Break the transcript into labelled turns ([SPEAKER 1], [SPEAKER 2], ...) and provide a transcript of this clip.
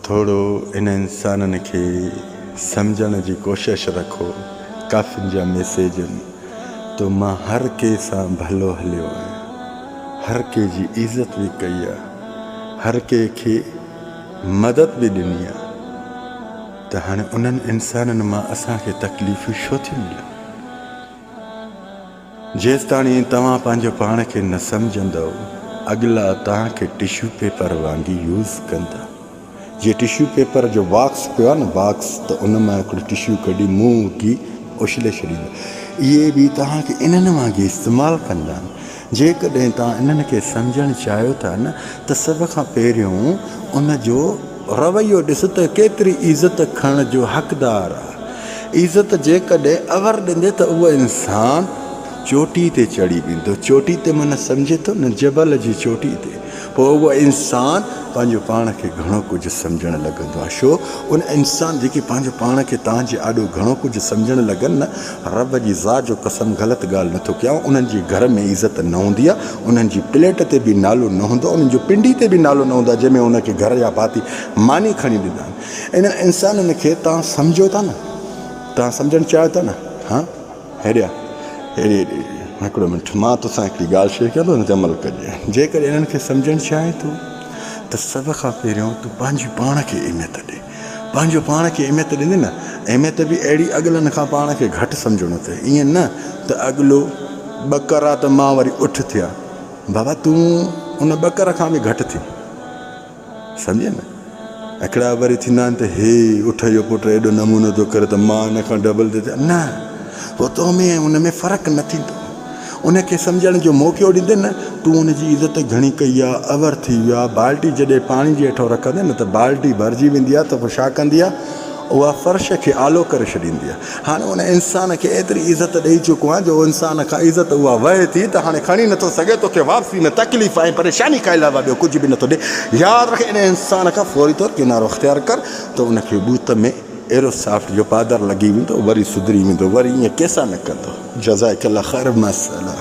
[SPEAKER 1] ٿورو انهن انسانن کي سمجهڻ جي ڪوشش رکو. ڪافين جا ميسيجن تو مان هر ڪي سان ڀلو هليو آهيان. هر ڪي جي عزت به ڪئي آ. هر ڪي کي مدد به ڏني آ. ته هاڻي انهن انسانن مان اسان کي تڪليفون ڇو ٿيون ملن؟ جيستاڻي توهان پنهنجو پاڻ کي نه سمجهندؤ اڳلا توهان کي ٽشو پيپر وانگي يوز ڪندا. جي ٽشو پيپر جو باڪس پيو آهي نه باڪس ته ان مان هڪڙو ٽشو ڪڍي منهن اگهي اڇلي ڇڏيندا. اهي به توهان کي انهن وانگي استعمال ڪندا. جيڪڏهن توهان انهن کي سمجهڻ چاهيو ٿا نه ته سڀ کان پهريون ان جو رويو ڏس ته ڪيتري عزت کڻڻ جو حقدار آ. عزت جيڪڏهن اور ڏيندي ته اهو انسان چوٽي تي چڙهي ويندو. چوٽي تي معنيٰ سمجهي ٿو نه جبل جي چوٽي تي. پوء اهو انسان پنهنجو پاڻ کي گهڻو ڪجهه سمجهڻ لڳندو آ. ڇو ان انسان جيڪي پنهنجو پاڻ کي تنهنجي آڏو گهڻو ڪجهه سمجهڻ لڳن نه رب جي ذات جو قسم غلط ڳالهه نه ٿو ڪيان انهن جي گهر ۾ عزت نه هوندي آهي انهن جي پليٽ تي به نالو نه هوندو آهي انهن جي پنڊي تي به نالو نه هوندو آهي جنهن ۾ انهن کي گهر جا ڀاتي ماني کڻي ڏيندا آهن انهن انسانن کي توهان سمجهو ٿا نه توهان سمجهڻ چاهيو ٿا نه ها هيڏيا هيڏي هيڏي هڪڙو منٽ مان توسان هڪڙي ڳالهه شيئر ڪيان ٿو ان تي عمل ڪجي جيڪڏهن انهن کي سمجهڻ چاهين ٿو ته سڀ کان پهريون تون پنهنجي پاڻ کي اهميت ڏي پنهنجو پاڻ کي اهميت ڏني نه اهميت به اهڙي اڳلن کان پاڻ کي گهٽ سمجهڻو ٿئي ائين نه ته اڳلو ٻڪر آ ته مان وري اٺ ٿيا بابا تون ان ٻڪر کان به گهٽ ٿي سمجهي نه هڪڙا وري ٿيندا آهن ته هي اٺ جو پٽ ايڏو نمونو ٿو ڪري ته مان ان کان ڊبل ٿي ٿيا نه پوء تو ۾ ان ۾ فرق نه ٿيندو ان کي سمجهڻ جو موقعو ڏيندين نه تون ان جي عزت گهڻي ڪئي آ، اور ٿي ويو آ، بالٽي جڏهن پاڻي جي هيٺئون رکندين نه ته بالٽي ڀرجي ويندي آ ته پوء ڇا ڪندي آ، اها فرش کي آلو ڪري ڇڏيندي آ، هاڻي ان انسان کي ايتري عزت ڏئي چڪو آهيان جو انسان کان عزت اها وهي ٿي ته هاڻي کڻي نه ٿو سگهي، توکي واپسي ۾ تڪليف ۽ پريشاني کان علاوه ٻيو ڪجهه به نه ٿو ڏئي، ياد رک ان انسان کان فوري طور ڪنارو اختيار ڪر ته ان کي ٻوت ۾. ايرو سافٽ جو پادر لڳي ويندو وري سڌري ويندو وري ايئن ڪيسان نه ڪندو جزاڪ الله خير ماشاء الله.